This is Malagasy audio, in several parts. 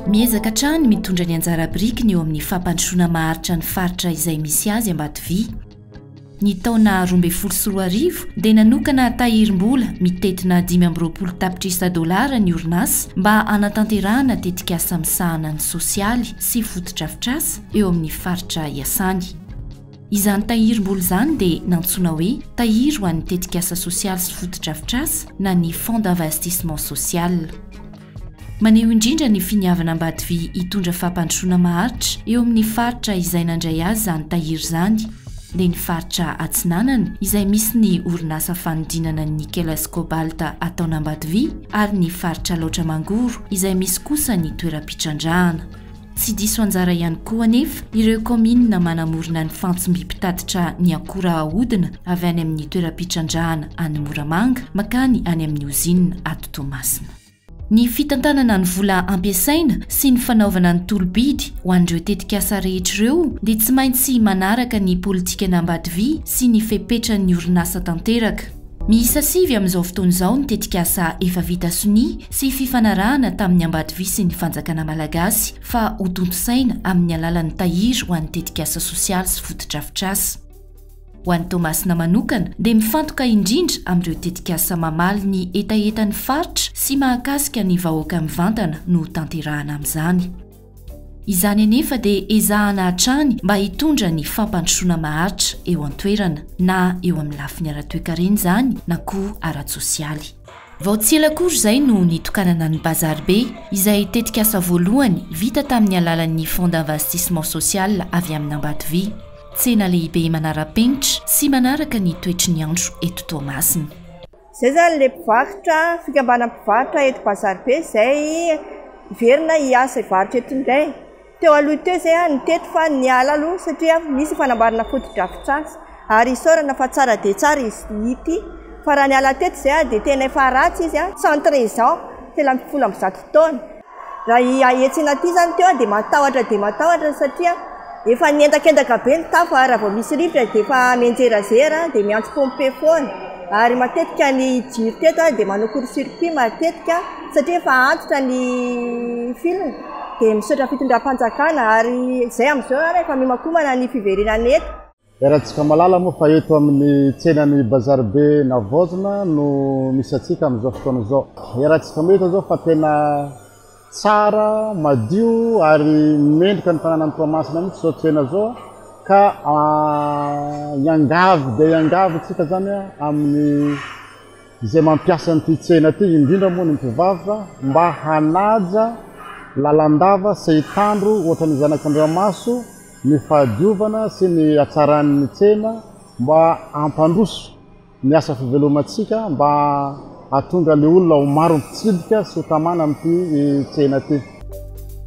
Miezaka hatrany ny mitondra ny anjara birikiny eo amin'ny fampandrosoana maharitra ny faritra izay misy azy Ambatovia. Ny taona roa ambin'ny folo sy roa arivo dia nanokana tahirim-bola mitentina dimy amby roapolo tapitrisa dolara ny orinasa mba hanatanterahana tetikasa misahana ny sosialy sy fotodrafitrasa eo amin'ny faritra iasany. Izany tahirim-bola izany dia nantsoina hoe tahiry ho an'ny tetikasa sosialy sy fotodrafitrasa na ny Fonds d'investissement social. Maneho indrindra ny finiavana Ambatovi hitondra fampandrosoana maharitra eo amin'ny faritra izay nandray azy izany tahiry izany dia ny faritra Atsinanana izay misy ny orinasa fanodinana ny Nickeles Cobalt ataon'Ambatovi ary ny faritra Alaotra Mangoro izay misy kosa ny toeram-pitrandrahana Tsy diso anjara ihany koa anefa ireo kaominina manamorona ny fantsmby mpitatitra ny akora ahodina avy any amin'ny toeram-pitrandrahana any Moramanga makany any amin'ny ozinina ato Toamasina. Ny fitantanana ny vola ampiasaina sy ny fanaovana ny tolo-bidy ho an'ireo tetikasa rehetra ireo dia tsy maintsy manaraka ny politikana Ambatovi sy ny fepetran'ny orinasa tanteraka. Miisa sivy amin'izao fotoana izao ny tetikasa efa vita sonia sy fifanarahana tamin'ny ambadivi sy ny fanjakana malagasy fa hotontosaina amin'ny alalan'ny tahiry ho an'ny tetikasa sosialy sy fotodrafitrasa. Ho an'i Toamasina manokana dia mifantoka indrindra amin'ireo tetikasa mamaly ny hetahetan'ny faritra sy mahakasika ny vahoaka mivantana no hotanterahana amin'izany. Izany anefa dia ezahana hatrany mba hitondra ny fampandrosoana maharitra eo an-toerana, na eo amin'ny lafiny ara-toekarena izany na koa ara-tsosialy. Vao tsy ela akory izay no nitokanana ny Bazar Be, izay tetikasa voalohany vita tamin'ny alalan'ny Fonds d'investissement social avy amin'Ambatovy. Tsena lehibe manara-penitra sy manaraka ny toetry ny andro eto Toamasina. Izay izany ilay mpivarotra, fikambanan'ny mpivarotra eto Bazaribe izay hiverina hiasa hivarotra eto indray. Teo aloha teo izay aho nitety fa niala aloha satria misy fanamboarana fotodrafitrasa ary isaorana fa tsara dia tsara izy ity. Fa raha niala teto izay aho dia tena efa ratsy izy, centre Jean, telo ambin'ny folo amby zato taona. Raha etsy inaty izany teo aho dia matahotra dia matahotra satria efa niendakendaka be ny tafo ary raha vao misy rivotra dia efa mianjerazera dia miantso pompier foana ary matetika ny jiro teto aho dia manao court circuit matetika satria efa antitra ny fil dia misaotra fitondram-panjakana ary izay amin'izao ary efa mihomakomana ny fiverenana eto. Iarahantsika mahalala moa fa eto amin'ny tsenan'ny Bazar be Navaozina no misy antsika amin'izao fotoana izao. Iarahantsika mahita izao fa tena tsara, madio ary mendrika ny tanànan'i Toamasina mihitsy izao tsena izao ka hiangavy dia hiangavy isika izany amin'ny izay mampiasa an'ity tsena ity, indrindra moa ny mpivarotra mba hanaja lalandava sy hitandro ohatra ny zanak'Andriamaso. ny fahadiovana sy ny hatsaran'ny tsena mba hampandroso ny asa fivelomantsika mba hahatonga ny olona ho maro mpitsidika sy ho tamana amin'ity tsena ity.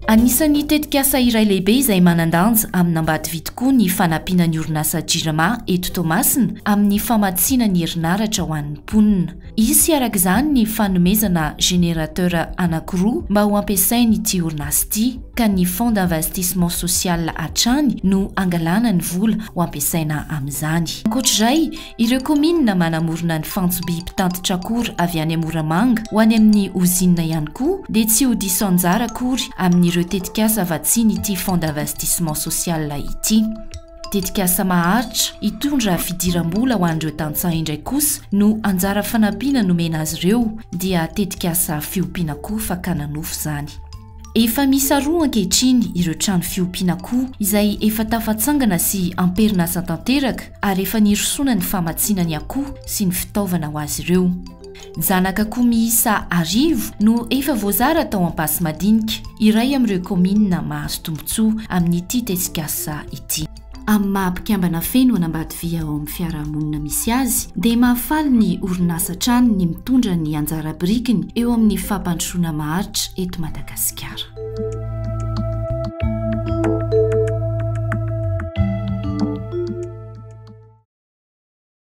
Anisan'ny tetikasa iray lehibe izay manan-danja amin'Ambatovi tokoa ny fanampiana ny orinasa Jirama eto Toamasina amin'ny famatsiana ny herinaratra ho an'ny mponina. Hisy araka izany ny fanomezana générateur anankiroa mba ho ampiasain'ity orinasa ity, ka ny Fonds d'investissement social hatrany no hangalana ny vola ho ampiasaina amin'izany. Ankoatra izay, ireo kaominina manamorona ny fantso-by mpitatitra akora avy any Moramanga ho any amin'ny ozinina ihany koa dia tsy ho diso anjara akory amin'ireo tetikasa vatsian'ity Fonds d'investissement social ity. Tetikasa maharitra hitondra fidiram-bola ho an'ireo tantsaha indray kosa no anjara fanampiana nomena azy ireo dia tetikasa fiompiana koa fakana nofo izany. Efa miisa roa ankehitriny ireo trano fiompiana akoho izay efa tafatsangana sy amperinasa tanteraka ary efa nirosoana ny famatsiana ny akoho sy ny fitaovana ho azy ireo. Zanak'akoho miisa arivo no efa voazara tao Ampasimadinika, iray amin'ireo kaominina mahazo tombontsoa amin'ity tesikasa ity. Amin'ny maha mpikambana feno an'Ambatoviha ao amin'ny fiarahamonina misy azy dia mahafaly ny orinasa hatrany ny mitondra ny anjara birikiny eo amin'ny fampandrosoana maharitra eto Madagasikara.